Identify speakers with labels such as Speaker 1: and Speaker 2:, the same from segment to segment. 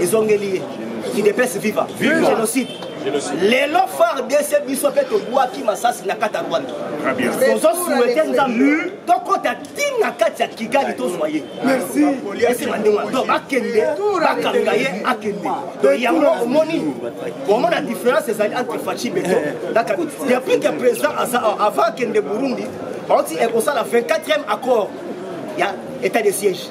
Speaker 1: ezongeli ye kidepese viva génocide lelo fardc biso mpe tobwaki masasi na kati ya rwanda tozosuete nzambe tokɔta ti na kati ya kigali tozwa ye esima ndenge wana donc bakende bakanga ye akende donc yango omoni omona différence ezali entre faci beto na kabila depuis que président aza avant akende burundi bauti ekosala 24e accord ya état de siège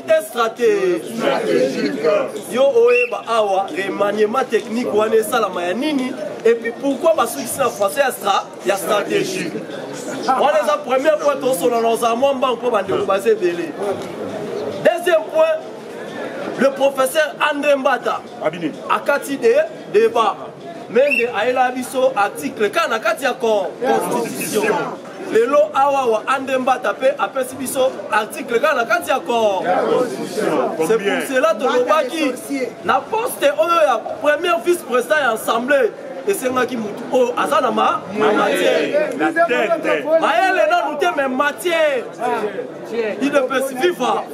Speaker 1: te stratégique yo oyeba awa remaniement technique wana esalama ya nini epuis pourquoi basukisi na français ya stra ya stratégique wana eza premier point tosolola ozala mwa mbango mpo bandeko baza ebele deuxième point le professeur andré mbata akati de débat mende ayela biso article kaka na kati ya constitution lelo awa wa ande mbata mpe apesi biso article kaka na kati ya corps c'est pour cela tolobaki na poste oyo ya premier vice président ya assemblée esengaki motu oyo aza na ma matière mayele nanu te me matière idps viva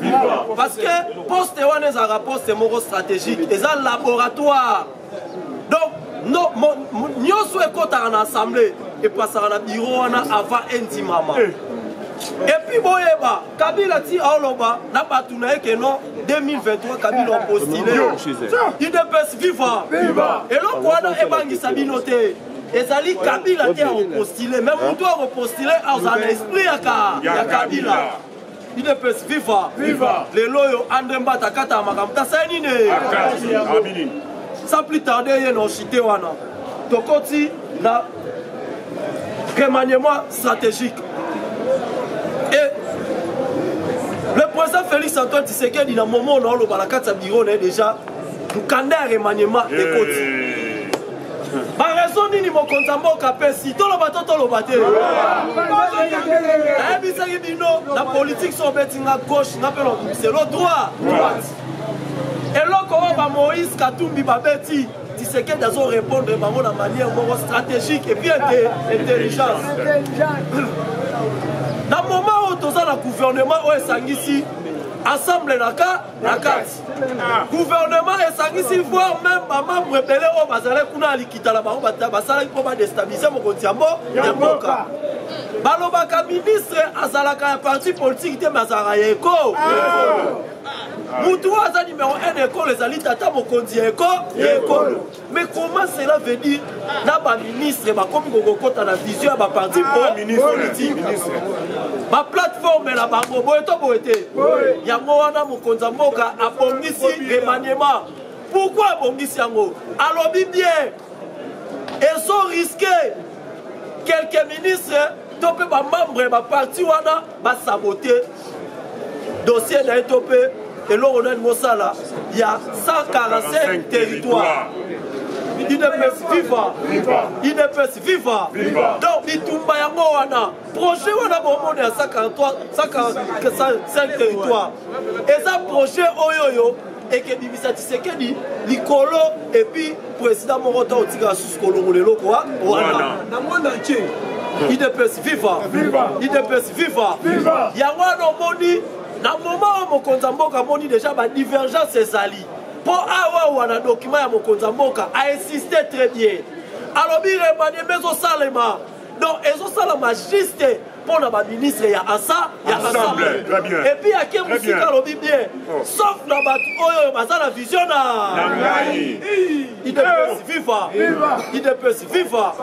Speaker 1: parce que poste wana ezalaka poste moko stratégique eza laboratoire donc no, mo, mo, nyonso ekotaka na assemblée epasaka na biro wana avant endimama eh. epuis boyeba kabila ti aoloba na bato na ye ke non 2023 kabila opostile idps viva eloko wana ebangisa bino te ezali kabila te akopostile me motu akopostile azala na esprit ya kabila udps viva viva lelo oyo andre mbata akata makambo tasai nini sans plus tarde ye na ochite wana tokoti na remaniement stratégique et le président félix antoine tisekedi na momo na oloba na kati ya biro na ye déjà mokanda ya remaniement ekoti baraison nini mokonzi ya mboka apesi toloba to toloba te ayebisaki bino na politike so obeti nga gauche nga mpe lobiselo droit droite eloko oyo bamoïse katumbi babeti tisekedi azo répondre bango na manière moko stratégique epuis intelligence na moment oyo toza na gouvernement oyo esangisi assemble na ka na kati ah. gouvernement esangisi voir même bamembre ebele oyo bazalaki kuna ya likita na bango basalaki mpo badestabilize mokonzi ya mboka balobaka ministre azalaka ya parti politike te me azalaka ya eko ah. motu oyo aza nimero 1 ekolo ezali tata mokonzi ya eko ya ekolo mais comment cela veut dire na baministre bakomi kokokota na vision ya baparti ah, politique baplateforme na bango boye to boye te yango wana mokonzi ya mboka abongisi remaniema pourkui abongisi yango alobi bien ezo riske quelques ministres to mpe bamembre ya baparti wana ba saboter dossier na ye to mpe eloko nani mosala ya 145 territoire idps viva idps viva donc bitumba yango wana projet wana bomoni ya 145 territoire eza projet oyoyo ekebimisa tisekedi likolo epuis president moko to otikala susu kolongola eloko wana na monde entier hmm. idps viva idps viva yango wana omoni na moma oyo mokonzi ya mboka amoni deja badivergence ezali mpo awawa na dokima ya mokonzi ya mboka ainsiste très bien alobi remanie mpe ezosalema donc ezosalama juste mpo na baministre ya asa ya ensemble epuis ake mosika alobi bien oh. sauf na bato oyo oyo baza na vision na ngai idps viva idps viva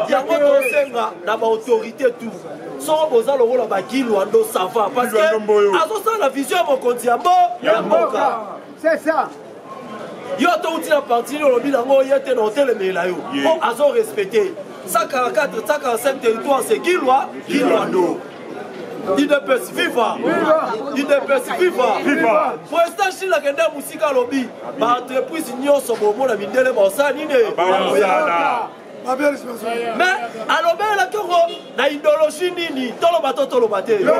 Speaker 1: yango tosenga na baautorité tout soko boza lokola bagilwando sava parce que azosala na vision ya mokonzi ya mboka c'est ça
Speaker 2: yo
Speaker 1: to uti na parti nini olobi nango ye te na otelemela yo po azo respecte 144 145 territoire c'est kilwa kilwando idps viva idps viva prestan shila akende mosika alobi baentreprise nyonso bomona mindele baosala nini me alobelelaki yango na ideologie nini toloba to toloba te le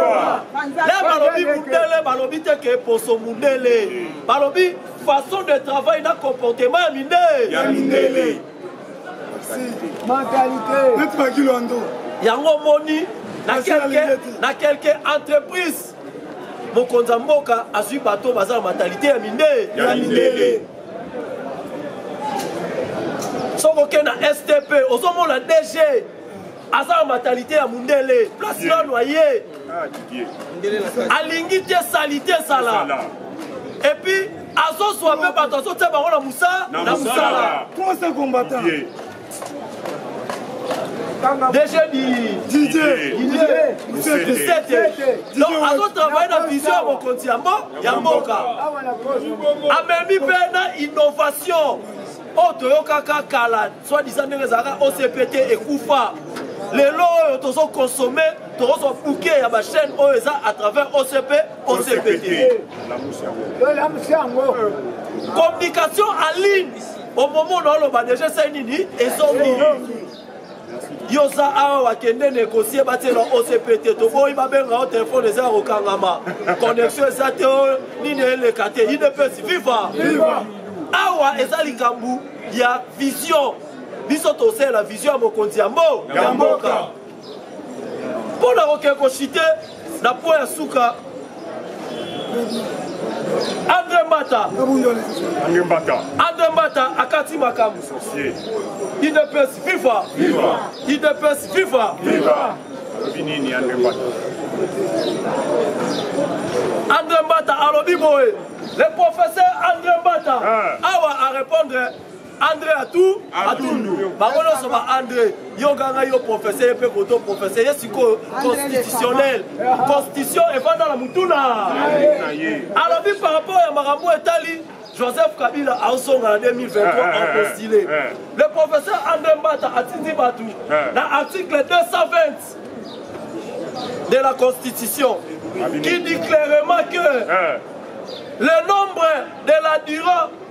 Speaker 1: balobi mundele balobi te ke poso mundele balobi façon de travail na comportement ya minde ya mindele
Speaker 2: yango omoni
Speaker 1: na quelque entreprise mokonzi ya mboka azwi bato baza na mentalite ya mindele soki oke na stp ozomona dg aza na matalite ya mundele place nano aye ah, alingi te salite ezala epuis azozwa mpe bato azotia bango na mosala na mosala Déjà dit Didier Didier Donc azo travailler na vision ya mokonzi ya ya mboka amemi mpe na innovation oyo toyokaka kala soit disant ndenge ezalaka ocpt ekufa lelo oyo tozokonsome tokozwa buke ya bachaîne oyo eza à travers ocp ocpt communication en ligne okomona oloba deja esai nini ezongi yo oza awa wakende negocie batiela ocp te toboyi babenga yo telefone eza ya kokangama connexion eza te oyo nini eleka te idps viva awa eza likambo ya vision biso tosalela vision ya mokonzi ya mbo ya mboka mpo na kokende koshite na mpo ya suka andre mbata andre mbata andre mbata akati makambo idps viva idps viva alobi
Speaker 3: nini andre mbata
Speaker 1: andre mbata alobi boye le professeur andre mbata ah. awa arépondre andre atu atundu bango nyonso ba andre yo ganga yo professeur ye mpe koto professeur ye sikoyo constitutionnel constitution efanda na motuna alobi par rapport ya makambo etali joseph kabila azonga na 2023 apostile le professeur andre mbata atindi bato na article 220 de la constitution qui dit clairement que le nombre de la durant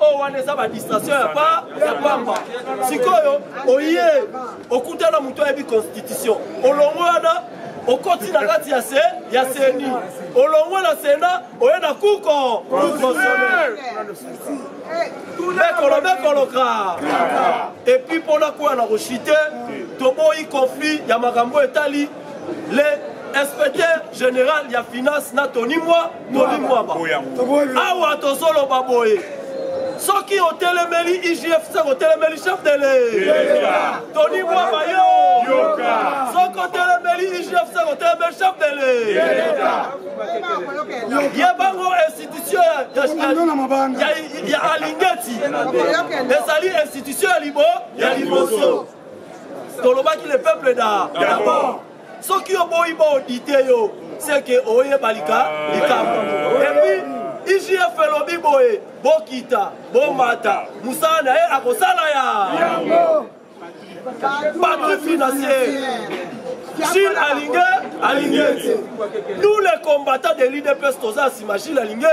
Speaker 1: oyo wana eza badistration ya pa ya pamba sikoyo oye okutana moto ayebi constitution olongo wana okoti na kati ya se ya seni olongo na sena oye na kuko kukosonel bekolo bekoloka epuis mpo nakwea na koshite toboyi conflit ya makambo etali le inspecteur général ya finance na toni mwa tolimbwama awa tozoloba boye soki otelemeli igfc otelemeli chef de l'etat tony bwaba yo soki otelemeli igfc otelemeli chef de l'etat ye bango institution ya alingeti ezali institution ya libo ya liboso tolobaki le peuple d'abord soki oboyi ba audite yo seke oyeba lika likambo epuis igf elobi boye bokita bomata mosala na ye akosala ya patri financier gile alinge alinge te nous les combattants de l'idps toza nsima gile alinge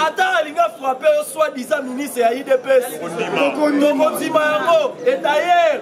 Speaker 1: ata alinge frappe yo soit disant ministre ya idps tokondima yango et d'ailleurs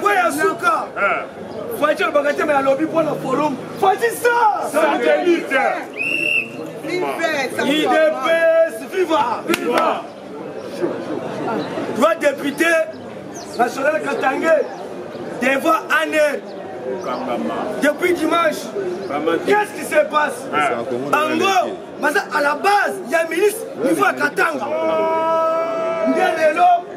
Speaker 3: Kwe ya
Speaker 1: suka eh. Fati alobaka te me alobi mpo na forum Fati sa Santelite Idps viva Viva Toi député national Katangais devant Anne depuis dimanche qu'est-ce qui se passe bango baza à la base ya ministre niveau ya katanga nde lelo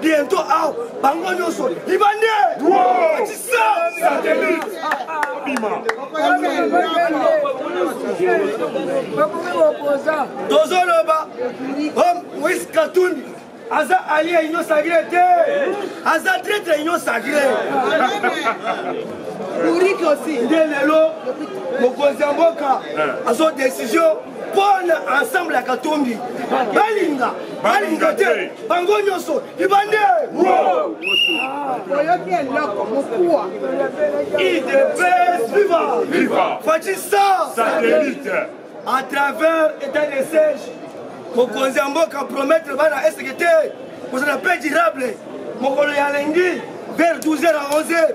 Speaker 1: bientôt awa bango nyonso libande atisa satellite bima tozoloba moise katumbi aza alie ya union sacré te aza traitre ya union sacré nde lelo mokonzi ya mboka azo décision mpona ensemble ya katumbi balinga balinga te bango nyonso libande oyoki eloko mokuwa idps viva fatisa satellite
Speaker 3: à
Speaker 1: travers état de siège mokonzi ya mboka promettre bana eseke te kozala mpe durable mokolo ya lengi vers 12 heures à 11 heures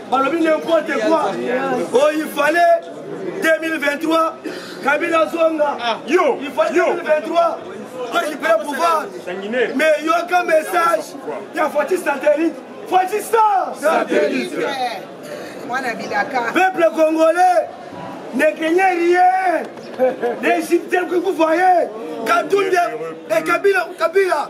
Speaker 1: balobi n'importe quoi oyo oh, ifale 2023 kabila azonga ah, yo ifale
Speaker 3: 2023
Speaker 1: récupère pouvoir mais yoka message ya fati satellite fati star satellite
Speaker 3: mwana bilaka
Speaker 1: peuple congolais ne craignez rien n'hésitez que vous voyez katunde et kabila kabila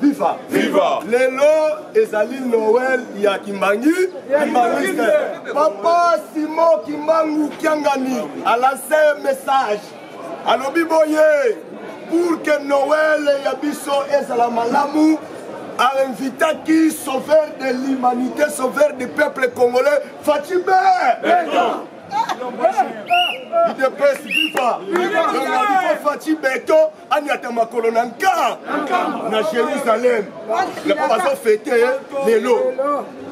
Speaker 1: viva viva lelo ezali noel ya kimbangi kimbanguiste papa simo kimbangu kiangani alance message alobi boye pour que noel ya biso ezala malamu
Speaker 2: ainvitaki sauveur de l'humanité sauveur du peuple congolais fatime idepesi viva fatime beton anyata makolo na nka na jérusalem yango bazofete lelo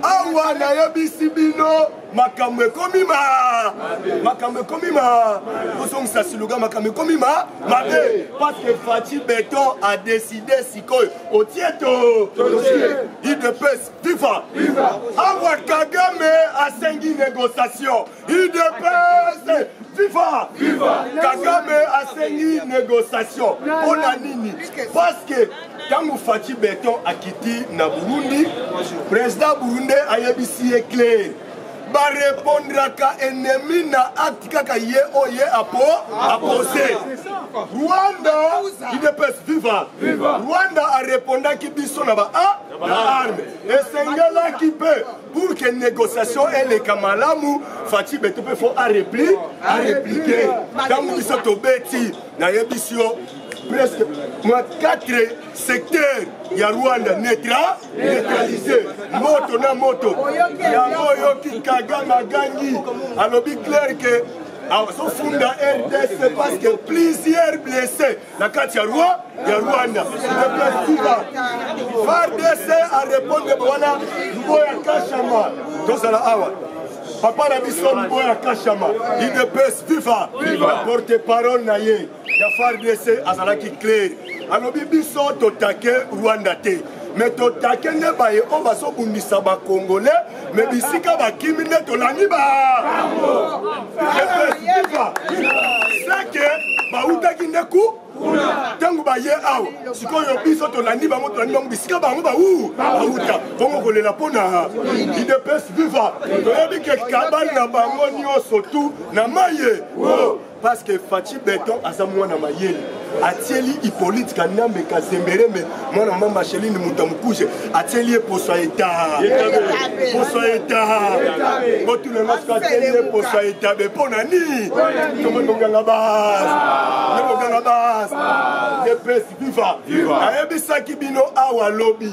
Speaker 2: awa nayebisi bino makambo ekomi ma makambo ekomi ma kozongisa siluga makambo ekomi ma mabe parceke faci beton a décide sikoyo otie to idps viva awa kagame asengi négociation udps viva viva kagame asengi négociation mpo na nini parce que ntango faci beton akiti na burundi président burundais ayebisi ye claire barepondraka ennemi na acte kaka ye oyo ye apo apose rwanda idps viva rwanda arepondaki biso na ba a na arme esengelaki mpe pour que négociation eleka malamu faci beto mpe fo arepli areplike ntango biso tobeti nayebisi yo presque mwa 4 secteur ya rwanda netra neutralise moto na moto yango oyoki kagame agangi alobi claire ke azofunda rdc parce que plusieurs blessés na kati ya roi ya rwanda eplasiba fardc arepondre wana mbo ya kashama tozala awa papa na biso mbo ya kashama idps viva porte parole na ye ya fardc azalaki claire alobi biso totake rwanda te me totake nde baye oyo bazobundisa bacongolais me bisika bakimi nde tolandi ba seke bautaki nde ku ntango baye awa sikoyo biso tolandi bango tolandi bango bisika bango bau bauta bongo kolela mpo na idps viva toyebi ke kabali na bango nyonso tu na maye parce que Fatshi Beton aza mwana mayele atieli Hippolyte Kanambe Kazemberembe mwana mama Marceline Muta Mukuje atieli ye poso ya etat poso ya etat botuna nga soki atieli ye poso ya etat be mpo na nini tomoni boganga base ye boganga base ye pesi viva ayebisaki bino awa lobi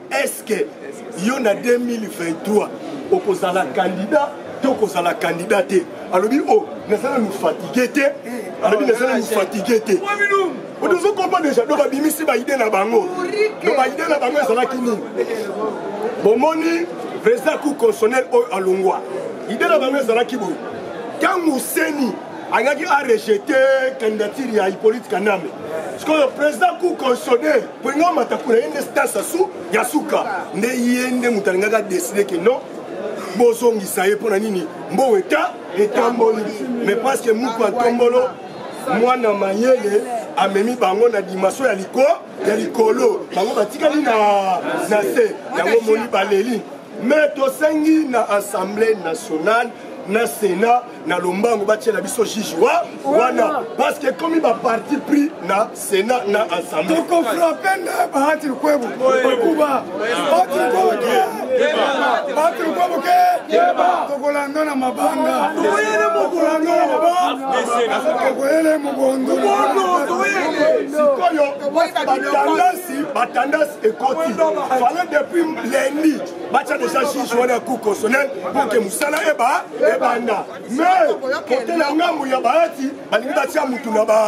Speaker 2: eske yo na 2023 okozala candidat to kozala candidat te alobi o oh, naza nanu fatigue te eh, alobi naza nanu fatigue te ozo comprendre deja do babimisi baide na bango do baide na bango ezalaki nini bomoni président cour constitutionnel oyo alongwa ide na bango ezalaki boye ntango seni alingaki arejete candidature ya hippolyte kanambe sikoyo président cour constitutionnel mpolinga omata kuna ye nde stas asu ya suka nde ye nde moto alingaki adeside ke non bozongisa ye mpo na nini mbongo eta etamboli mais parceke muku atombolo mwana mayele amemi bango na dimension ya liko ya likolo bango batikali na na se yango moni baleli mais tosengi na assemblée nationale na sénat na lombango batiela biso juge wa wana parce que ekomi baparti pris na sénat na assemblée tokofrape nde
Speaker 3: bahati lukwebu bakuba bahati lukwebu ke bahati lukwebu ke tokolanda na mabanga tokolanda na mabanga tokoyele mobondo sikoyo
Speaker 2: batandasi batandasi ekoti fale depuis lundi batya deja juge wana ya cour constitutionnel mpo ke mosala eba ebanda mais kote na ngambo ya baati balingi batya motu na ba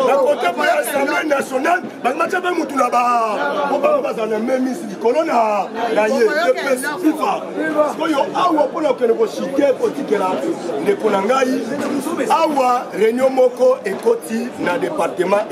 Speaker 2: na kote mpo ya assemblée nationale balingi batya mpe motu na ba mpo bango bazala na memisi likolo na na ye dps fifa sikoyo awa mpo na kokende koshike kotikela ndeko na ngai awa réunion moko ekoti na département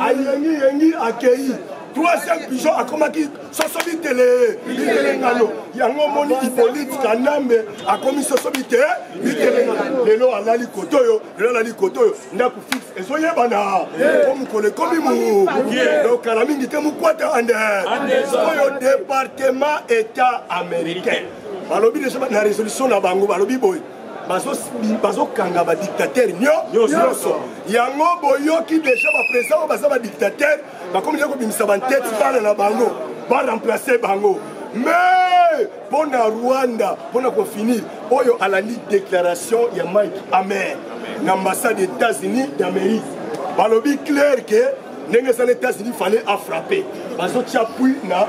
Speaker 2: ayengi yengi akeyi troisième pigeon akomaki soso bitele bitele ngano yango omoni ipolite kanambe akomi soso bite bitele ngano lelo alali koto oyo lelo alali koto oyo ndako fixe ezoyebana po mokolo ekomi mu donc kala mingi te mokwata ande oyo département état américain balobi deja na résolution na bango balobi boye bazokanga badictatere nyonso yango boyoki deja bapresident oyo baza badictatere bakomi nde kobimisa banteti bana na bango baremplace bango mais mpo na rwanda mpo na kofinir oyo alandi déclaration ya mike amer na ambassade ya états-unis d'amérique balobi claire ke ndenge eza na états-unis fale afrappe bazotya pui na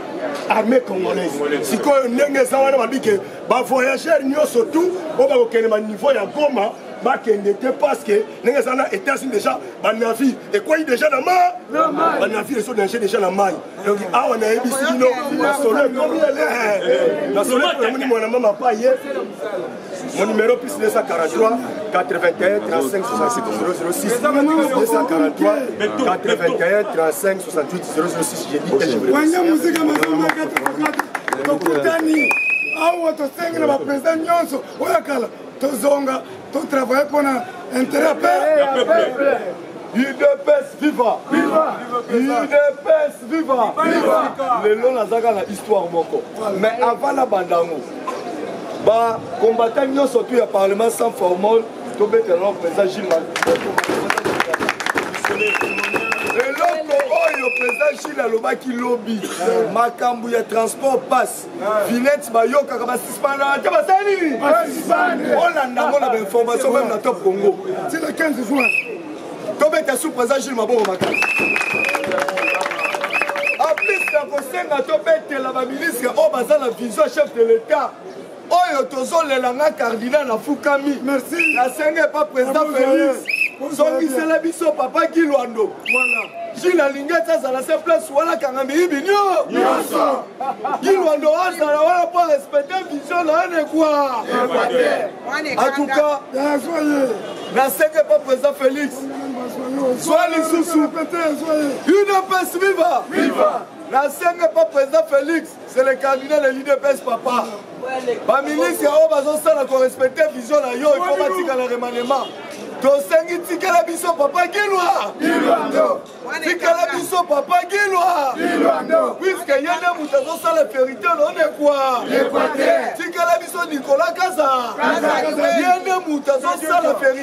Speaker 2: armée congolaise sikoyo ndenge eza wana babike ba voyageurs nyonso tout oyo bakokende ma niveau ya goma bakende te parce que ndenge eza na états-unis déjà banavire ekwei déjà na ma banavire ezo danger déjà na mai donc awa nayebisi bino masolo ekomi ele masolo ekomi mwana mama pa ye Mon numéro plus 243 81 35 66 243 81 35 wanja mosika masamba kata kokata tokutani awa tosengi na bapresident nyonso oyo ya kala tozonga totravaille mpo na intérêt ya peuple udps viva udps viva lelo nazaka na histoire moko mais avant nabanda yango bacombattant nyonso tu ya parlement sans formole tobetela no président gilles eloko oyo président gilles alobaki lobi makambo ya transport passe vinette bayokaka basispana te basali nini olanda yango na bainformation meme na top congo tina 15 juin tobeta sous président gilles maboko makasi en plus na kosenga tobetela baministre oyo baza na vision chef de l'état oyo tozolela nga cardinal nafukami nasenga epa président félix zongisela biso papa kilwando jile alingi ete azala se place wana kanga miyibi nyonso kilwando azala wana mpo respecte vision na ane kwa atuka nasenga epa président félix zwa lisusu udps viva nasenga epa président félix c'est le candidat de l'udps papa bamilisi ya oyo bazosala korespecte vision na yo ifo batikala remanema tosengi tikela biso papa gilwa tikela biso papa gilwa puiske ye nde moto azosala verité lonekwa tikela biso nikola kaza ye nde moto azosala verité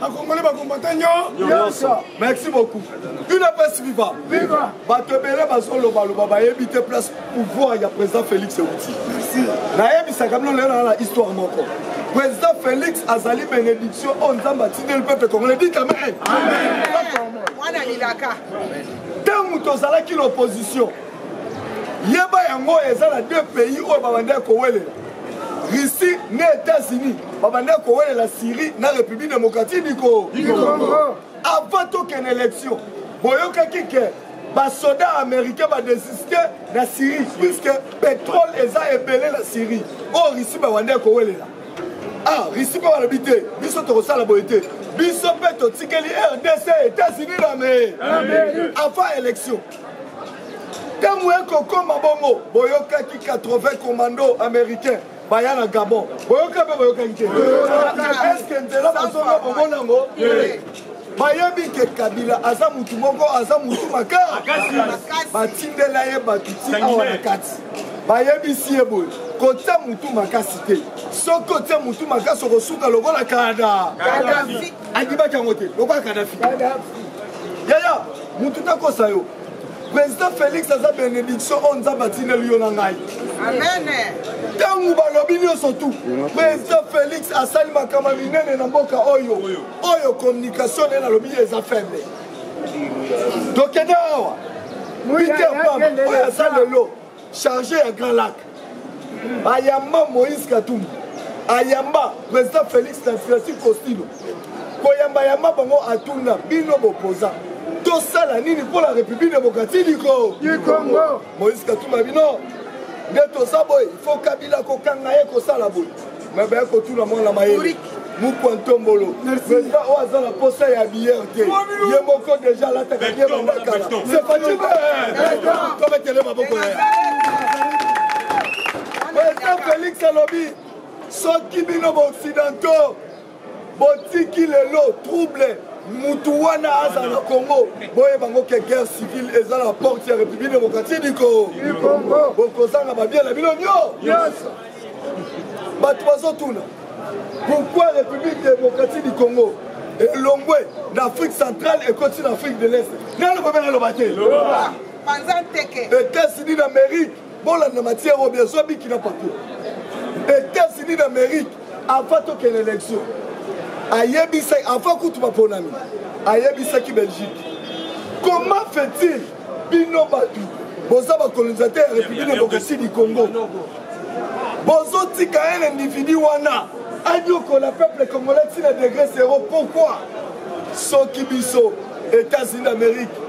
Speaker 2: bakongole bakombata nyonso merci beaucoup udps viva bato ebele bazolobaloba bayebi te place pouvoir ya président félix euti nayebisaka bino lelo na na histoire moko président félix azali bénédiction oyo nzambe atindeli peuple congolais dit amen ntango tozalaki l'opposition yeba yango eza na deux pays oyo babandaki kowelela russie na états-unis babandaki kowelela syrie na république démocratique du congo avant tokende élection boyokaki ke basoda américain badesiste na syrie puisque pétrole eza ebele na syrie oyo oh, russie bawandaki kowelela ah russie mpe balobi te biso tokosala boye te biso mpe totikeli rdc états-unis na me avant élection ntango ekokoma bongo boyokaki 80 commando américain baya na gabon boyoka mpe boyokaki te eske nzela bazonga bomona yango bayebi ke kabila aza mutu moko aza mutu makasi batindela ye bato ti awa na kati bayebisi ye boye kotya mutu makasi te soki otya mutu makasi okosuka lokola kada andimaki yango te lokola kadafi yaya mutu takosa yo président félix aza bénédiction oyo nzambe atindeli yo na ngai ntango balobi nyonso tu président félix asali makama minene na mboka oyo oyo communication nde nalobi ye eza faible tokende awa peter pam oyo aza lelo charge ya grand lac ayamba moïse katumbi ayamba président félix na francis costino koyambayamba bango atuna bino bopoza tosala nini mpo na république démocratique du congo moïse katumbi bino nde toza boye fo kabila kokanga ye kosala boye mais baya kotuna mwana mayele mukwa ntombolo president oyo aza na posa ya biyer te ye moko deja alataka ye bandakala sepatibe tobetele maboko ya president félix alobi soki bino baoccidentaux botiki lelo trouble mutu wana azala na congo boyeba ngo ke guerre civile eza na porte ya république démocratique du congo bokozanga babie na bino nyonso bato bazotuna pourquoi république démocratique du congo elongwe na afrique centrale ekoti na afrique de l'est naloba mpe naloba te etats-unis d'amérique bolanda matière oyo bien zwa biki na papier etats-unis d'amérique afa tokende élection ayebisa afa kutu baponami ayebisaki belgique comment fait-il bino bato boza bacolonisateur ya république démocratie du congo bozotika un individu wana anyokola peuple congolais ntina degre zero pourquoi soki biso états-unis d'amérique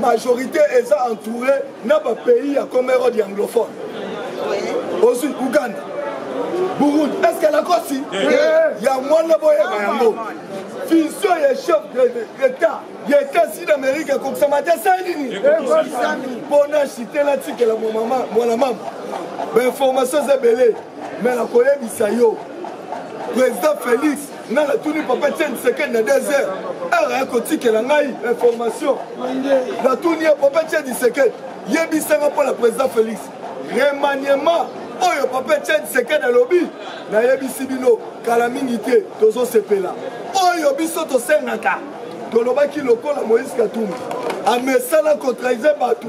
Speaker 2: majorité eza entouré na bapays ya comerode ya anglophone ozwi uganda burundi eske nakosi ya mwana boyeba yango fusion ya chef d'état ya etats-unis d'amérique ekokisama te sai nini mpona site natikela mwana mama bainformation eza ebele me nakoyebisa yo président félix nga natuni papa tieni sekeni na deux heures heure ya kotikela ngai information natuni ye papa tieni sekeni yebisanga mpo na président félix remaniement oyo papa tieni sekeni alobi nayebisi bino kala mingi te tozosepela oyo biso tosengaka tolobaki lokola moïse katumbi amesana kotrahise bato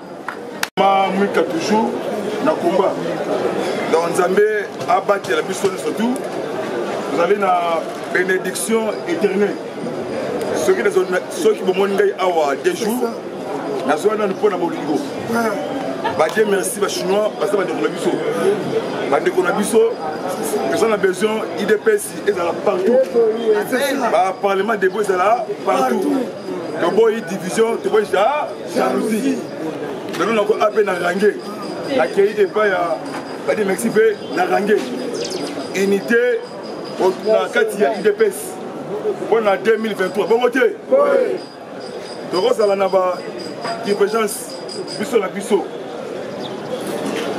Speaker 3: ma
Speaker 2: mwika toujours na combat donc nzambe abatela biso nyonso tout tozali na bénédiction éternelle soki bomoni ngai awa deux jours nazwa nanu mpo na bolingo badie merci bachinois baza bandeko na biso bandeko na biso toza na besoin idps ezala partout baparlement debo ezala partout toboyi division toboyi jalousie lelo nako ape na range akei epai ya badi mexi mpe na range unité na kati ya udps mpo na 2023 bongo te tokozala na ba divergence biso na biso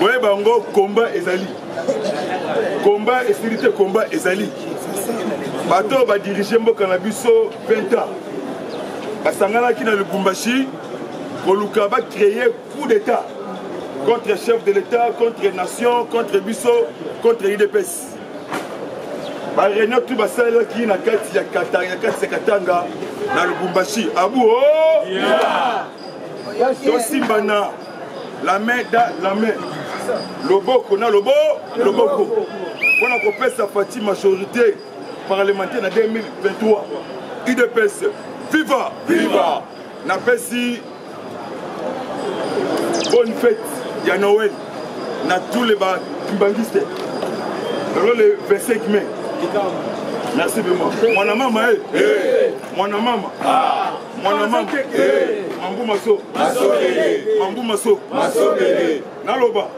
Speaker 2: boye bango komba ezali komba esili te komba ezali bato oyo badirige mboka na biso 20 ans basanganaki na lubumbashi koluka bacreye coup d'état contre chef de l'état contre nation contre biso contre idps bareunion tu basalelaki na kati ya katanga ya kati ya katanga na lubumbashi abu o oh! yeah. tosimbana la main da la main loboko na lobo loboko mpo na kopesa fati majorité parlementaire na 2023 udps viva viva napesi bonne fête ya noël na tous les bakimbangistes lelo le 25 mai merci vraiment mwana mama e eh. eh. mwana mama ah. mwana mama eh. mambu maso mambu maso naloba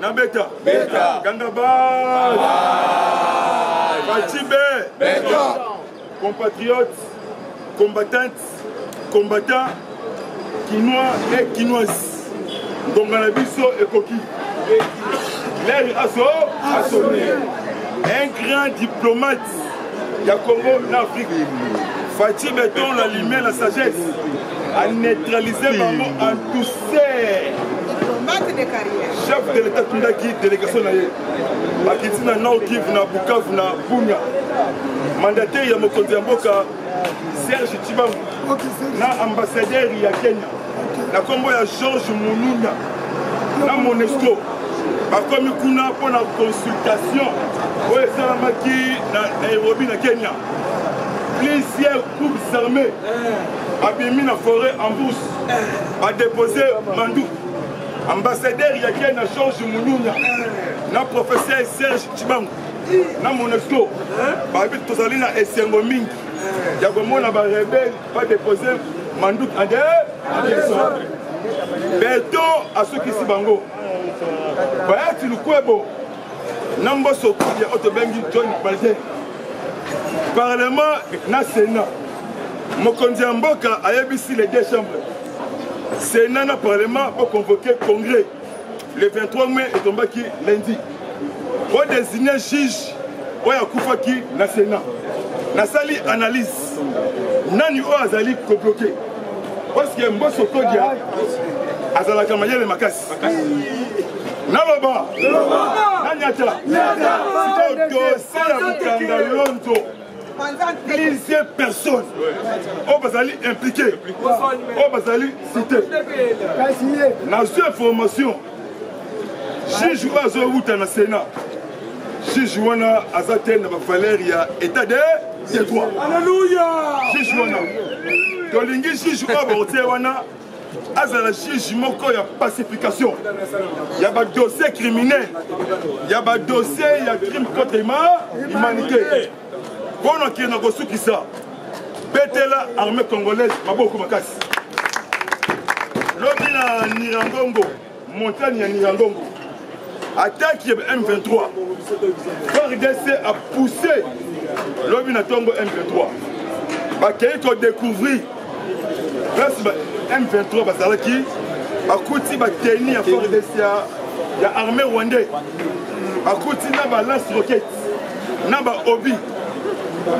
Speaker 2: Na beta. Beta. Ganga bye. Bye. Fatshibé. Beta. Compatriotes, combattantes, combattants, kinois et kinoises. Donc na biso ekoki. L'air aso. Asone. Un grand diplomate. ya congo na afrique faci beton la lumière la sagesse a neutraliser bango en douceur
Speaker 4: chef de l'état tundaki
Speaker 2: délégation na ye bakiti na nord kive na bukavu na bunia mandataire ya mokonzi ya mboka serge cibangu na ambassadeur ya kenya na nkombo ya george mununa na monesco bakomi kuna mpo na consultation oyo esalamaki na nairobi na kenya plusieurs groupes armés babimi na forêt en bourse badepose manduki ambassadeur ya kenya george mununya na professeur serge cibangu na monesco bayebi tozali na esengo mingi ya komona barebele badepose manduki ande eh, beton asukisi bango bayati lukwebo na mboso kulia oyo tobengi john balde parlement na sénat mokonzi ya mboka ayebisi les deux chambres sénat na parlement boconvoke congrès le 23 mai etombaki lundi odesigne juge oyo akufaki na sénat nasali analyse nani oyo azali kobloke parceke mboso kodia azalaka mayele makasi naloba nanyata sikoyo dosie ya mokanga lonzo plusieurs personnes oyo bazali impliqué oyo bazali cité nazwi information juge oyo azowuta na sénat juge wana aza te na bavaleur ya état de de droit juge wana tolingi juge oyo bakotie wana azala juge moko ya pacification ya badossier criminel ya badossier ya crime contre humanité mpo na kende kosukisa betela armée congolaise maboko makasi lobi na nirangongo Montagne ya Nyiragongo. Attaque ya M23. FARDC a poussé lobi na tongo M23. Bakei ko découvrir place ba M23 bazalaki bakuti bateni ya FARDC ya armée rwandais. Bakuti na ba lance roquette na ba obi.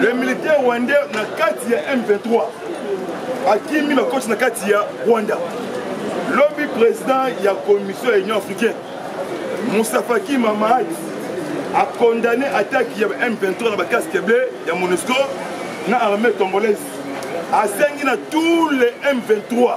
Speaker 2: Le militaire rwandais na kati ya M23 akimi bakoti na kati ya rwanda lobi président ya commission ya union africaine mosafaki mamad acondamne attaque ya m23 na bacasque bleu ya monusco na armée congolaise asengi na tous les m23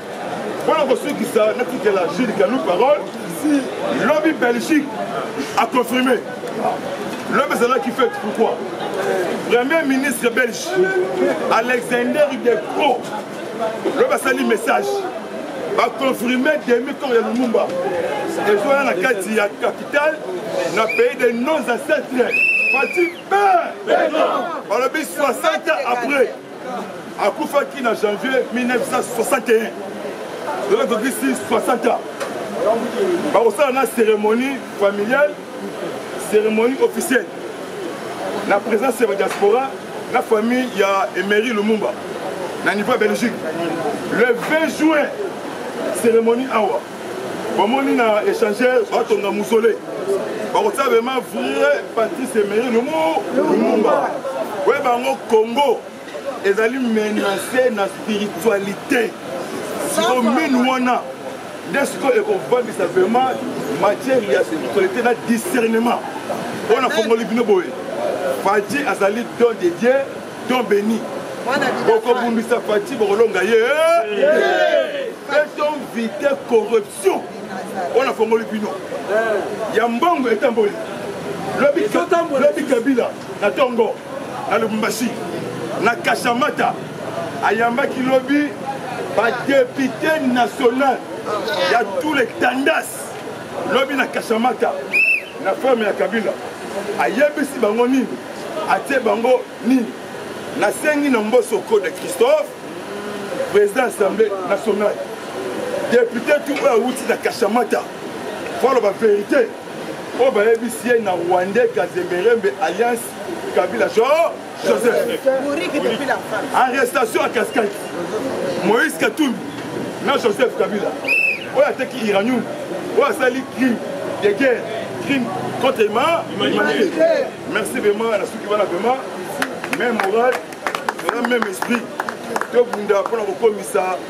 Speaker 2: mpona kosukisa natikela jules kalou parole lobi belgique aconfirme lobi ezalaki fete pourquoi premier ministre belge alexander de cro lobi asali message baconfirme demi corps ya lumumba ezwana na kati ya capitale na pays de nos ancetres fati pe balobi 60 après akufaki na janvier 1961 lelo tokisi 60 ans bakosala na cérémonie familiale cérémonie officielle na présence ya badiaspora na famille ya emery lumumba na niveau ya belgique le 20 juin cérémonie awa bamoni na échanger batonga musole bakotia bema vrai patrice emeri lumu lumumba oye bango congo ezali menace na spiritualité siko minu wana nde sikoyo ekofandisa vraimen matière ya spiritualité na discernement oyo nafongoli bino boye fadi azali don de dieu don beni bokobundisa fati bokolonga ye beton vite corruption oyo nafongoli bino eh. ya mbongo etamboli lobi kabila na tongo na lubumbashi na kashamata ayambaki lobi badepute national ya tous les tandas lobi na kashamata Na ferme ya Kabila ayebisi bango nini? Atie bango nini? Nasengi na Mboso Code Christophe, président assemblée nationale, depute tu oyo awuti na Kashamata, faut aloba verite oyo bayebisi ye na Rwandais Kazemerembe alliance Kabila genre arrestation ya cascade moïse katumbi na joseph kabila oyo ateki iranium oyo asali crime de guerre crime contre ma humanité merci vraiment na suki wana vraiment même moral na même esprit tobunda mpona kokomisa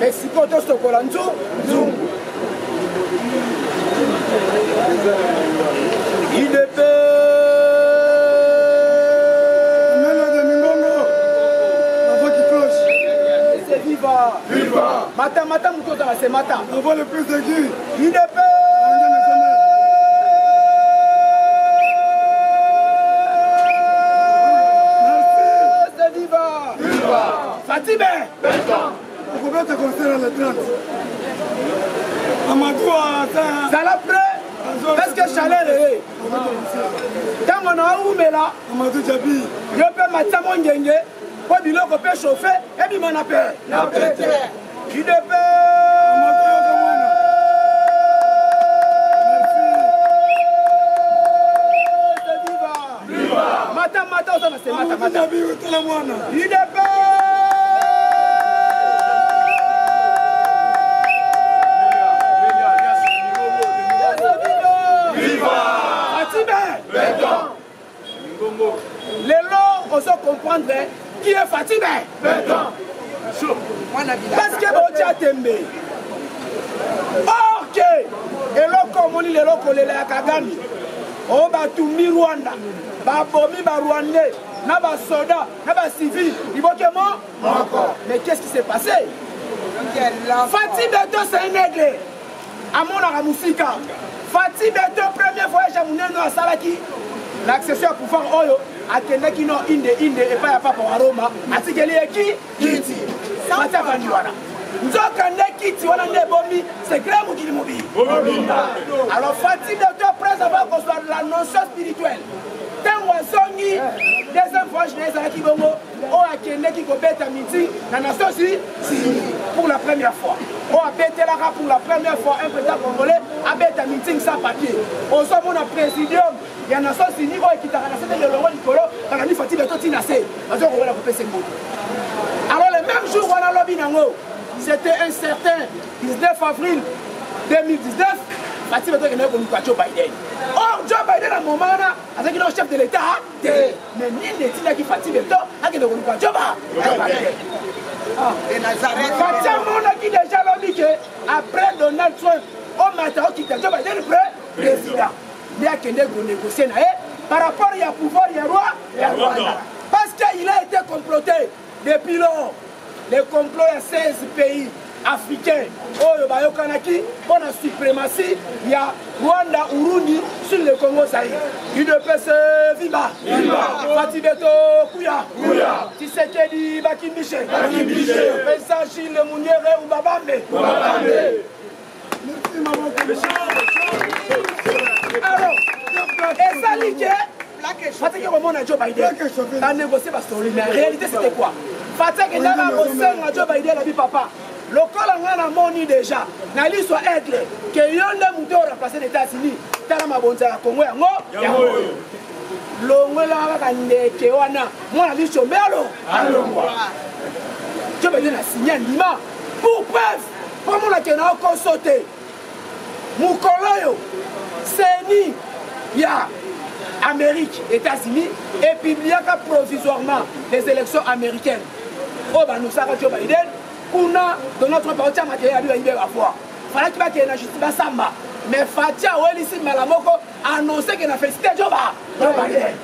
Speaker 3: Mais sikoyo tosokola nzu nzungu mata mata motu ozala se mata avant le prise de
Speaker 2: guy idp
Speaker 3: Fatime
Speaker 2: okobeta concert ya le 30 amadou aza zala
Speaker 3: prêt parce que chaleur eye ntango na owumela amadou jabi
Speaker 2: yo mpe matia
Speaker 3: mongenge mpo biloko mpe chauffe ebima na pe na pete idepee mata mata oza na se mata mata tala mwana idepe lelo ozo comprendre Qui est Fatime Béton. Parce que botia tembe. Or que eloko omoni lelo kolela ya Kagame oyo oh, batumbi Rwanda babomi ba Rwandais na ba soda na ba civil liboke mo moko. Mais qu'est-ce qui s'est passé Fatime Béton c'est un aigle. amonaka mosika fati beto premier voyage ya monene asalaki na accession ya pouvoir oyo akendaki no inde inde epai ya papa wa roma atikeli ye ki kiti fati afandi wana nzoka nde kiti wana nde ebomi sekre mokili mobili alors fati beto pres ava kozwa la notion spirituelle ntango azongi deuxième voyage na ye ezalaki bongo oyo akendeki kobeta miti na nations unis pour la première fois oyo abetelaka pour la première fois un président congolais abeta meeting sans papier ozomona présidium ya nations unis oyo ekitaka na sete lelongo likolo bakandi fati beto ntina se bazokokola kopesa mboto alors le même jour wana lobi nango c'était un certain 19 avril 2019 fati beto ekendaki koluka joe biden or joe biden na moment wana azalaki nao chef de l'état te me nini etindaki fati beto akende koluka joba joba te ah. fati amonaki deja lobi ke après donald trump omata okita joba deni pre président nde akende konegocie na ye par rapport ya pouvoir ya roi ya rwanda parce que il a été comploté Depuis lors, les complots ya 16 pays africains oyo bayokanaki mpo na suprématie ya Rwanda Urundi sur le Congo Zaïre. UDPS viva! Fatih Beto kuya! Tshisekedi bakimbishe! Vincent Gilles Munyere Ubabambe! ezali ke fataki komona joe biden banegocie basoli mais réalité c'était quoi fati akendaka kosenga jo baide alobi papa lokola ngai namoni deja na liso aigle ke yo nde moto oyo remplace na états-unis tala mabonza ya kongo yango yango oyo longolaka kaka ndeke wana mwana liso mbelo alongwa jo baide na sinya ndima pour preuve omona ke na okoso te mokolo oyo seni ya amérique états-unis epubliaka provisoirement les élections américaines oyo banusaka joe biden kuna donald trump aotya mateya yabi bayibe bavoi falaki bakende na justice basamba mais fati awelisi mbala moko annoncer que na félicité Joba Joe Biden.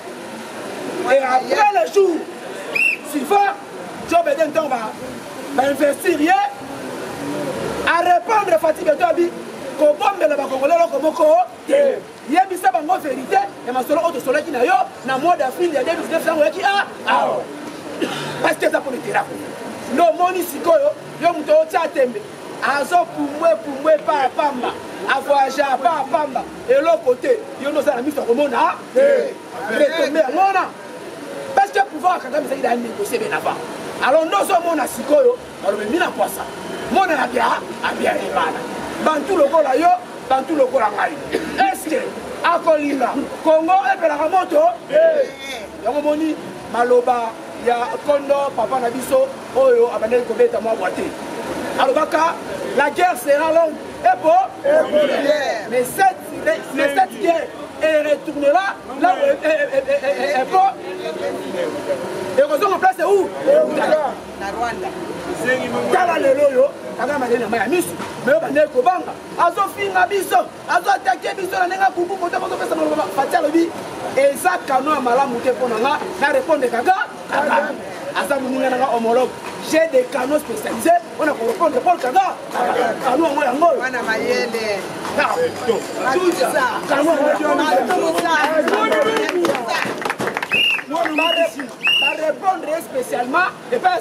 Speaker 3: Et après le jour suivant, Joe Biden tombe à investir ye, à répondre à Fatih Betobi, kobombela bakongole eloko moko te yebisa bango verité ya masolo oyo tosolaki na yo na mois d'avril ya 2019 yango oyaki a awa parce que eza mpo na eterako nde omoni sikoyo yo moto otya tembe azo pumbwe pumbwe epa ya pamba avoyage apa ya pamba eloko te yo nde oza na miso ya komona retombe yango wana parce que pouvoir ya kagame ezali daya négocie bien avant alors nde ozomona sikoyo balobi mina kwasa mona na bia abia ebana bantu lokola yo bantu lokola ngai eske akolinga kongo ebelaka moto yango moni maloba ya kondo papa na biso oyo abandaki kobeta mwa bwa te alobaka la guerre sera longue epo mais cette mais cette guerre elle retournera là où epo ekozonga place où na rwanda tala lelo oyo kagame aleli na mai ya miso me oyo bandeki kobanga azofinga biso azo atake biso na ndenge abubu moto bozopesa maloba fati alobi eza kano ya malamu te mpo na nga na repondre kaka kaka aza moninga nanga homologue j'ai des canaux spécialisé mpona korepondre paul kaka kano yango yango oyo barepondre ye spécialement epai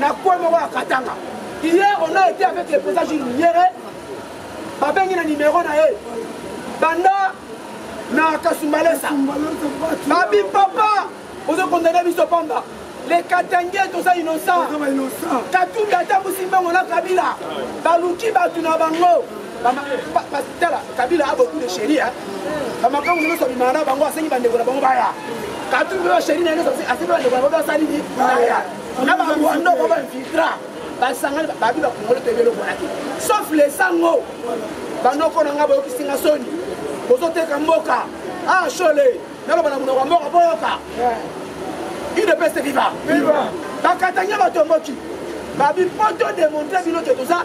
Speaker 3: na kwe moko ya katanga hier on a été avec le président jules minyere babengi na nimero na ye banda na kasumbalesa babi papa ozo kondane biso pamba le katange toza innocent katumbi atambusi mbango na kabila baluki bato na bango tala kabila a beaucoup de sheria bamakango nyonso abimaka na bango asengi bandeko na bango baya kabila oyo sheria na nyonso asengi bandeko na bango basali nini baya na barwando ba bainfiltra basangani babi bakongolo toyebi eloko wana te sauf lesango banoko na ngai boyokisi nga soni bozoteka mboka ah shole naloba na monoko ya mboka boyoka udps viva bakatanya batomboki babi mpo to demontre bino ke toza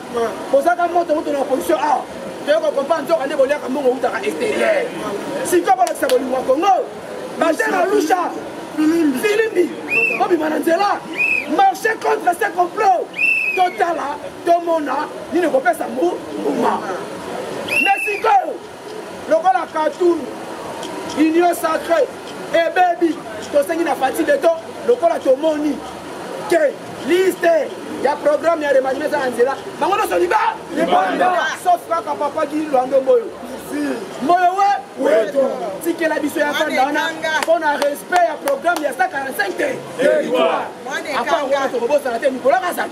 Speaker 3: bozaka moto moto na opposition awa toye kokompa nzoka nde boliaka mbongo outaka exterieur sikoyo bolakisa bolingo ya kongo batera lusha filimbi obima na nzela marche contre ce complot totala tomona nini ekopesa mbuma lokola katun union sacre ebebi tosengi na fati beto lokola tomoni ke liste ya programme ya remaniema eza na nzela bango nyonso liba libanda sauf kaka papa gi lwando mboyo mboyo we tikela biso ya fanda wana mpo na respect ya programme ya 145 te apart wana tokobosana te mikolo kazali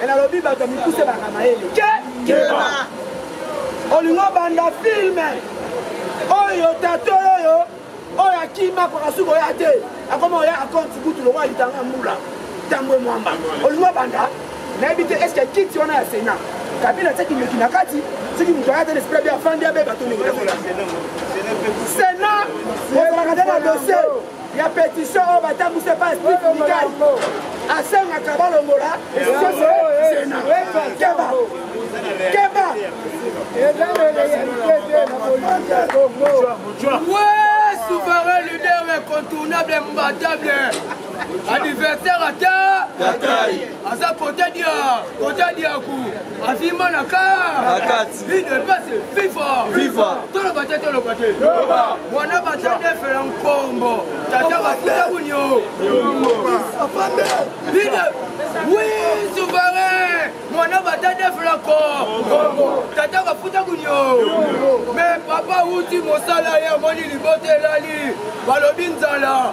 Speaker 3: me nalobi bato ya mikuse baka mayele ke keba olingo banda filme oyo tato oyo oyo akima pakasuki oya te akoma oya akonti kutu lokola litanga ya mbula ntango emwamba olingo banda nayebi te estce kiti wana ya sena kabila atiaki ndoki na kati soki moto aya te lesprit abe afandi abeba to ndenge sena ozalaka te na dossier ya petitio oyo batambwisi epa steve mikai asengaka balongola sena keba keba Ouais, souverain leader incontournable, imbattable, adversaire à terre. aza kotadia kotadiaku avimba na kati ide pase fifa fifa toloba te toloba te wana batadefela nkombo tata bafuta kunio ide wi suvere mwana batadefela ko tata bafuta kunio me papa uti mosala ye amoni libota elali balobi nzala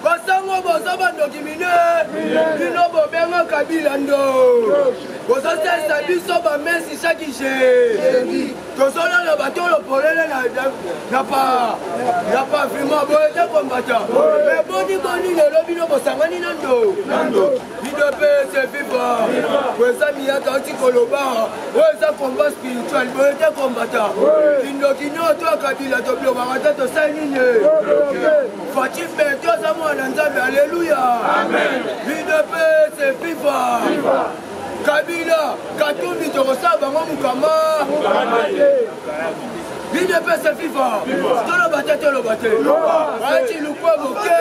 Speaker 3: basango boza bandoki mine bino bobenga kabila ndo bozosalisa biso bamesi chaki je tozolala batolo polele na pavima boye te kombata me boni boni lelo bino bosangani na ndo idps viva eza miyaka oti koloba oyo eza combat spirituel boye te kombata kindoki nyoto ya kabila tobiobaka te tosali nini Fatih Beto aza mwana Nzambe, alléluia. Amen. Udps viva. Viva. Kabila, Katumbi tokosala bango mukama. Udps viva. Toloba te toloba te. Bati lukwa boke.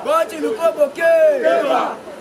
Speaker 3: Bati lukwa boke.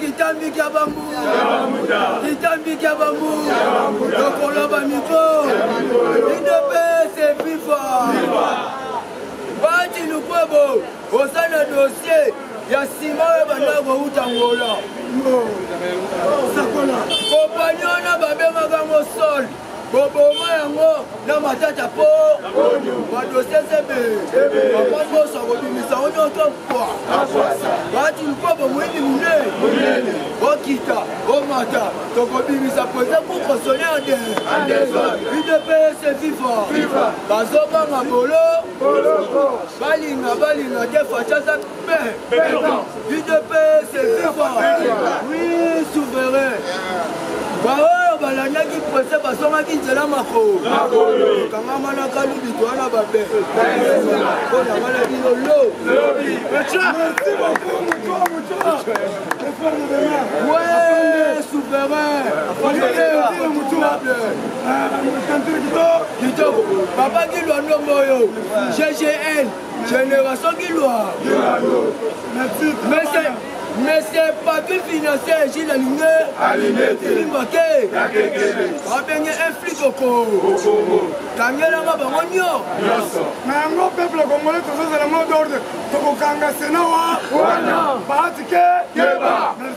Speaker 3: kitambi kya bambu kitambi kya bambu lokolo bamiko idepese fifa bati lukwebo oza na dosie ya nsima oyo banda kouta ngola kopani wana babengaka ngo sole boboma yango na matata po badosese be mama nyonso akobimisa ngo nyonso mpwa batu mpo bomoyini monene bokita bomata tokobimisa mpenza kokosone ade udps viva bazobanga bolo balinga balinga te facaza udps viva oui souverain baoyo balandaki prese basomaki nzela makokangama na kalubito wana babe mpo na wana bino lo Ouais, souverain. Papa qui doit nommer GGN. Génération qui loire. Monsieur, monsieur Patrick Financier, Gilles Alingé, Limbake, Abenge, un flic au Congo. Kangela nga bango nyo. Na
Speaker 2: yango peuple congolais tozozala mot d'ordre tokokanga sena wa wana baatike keba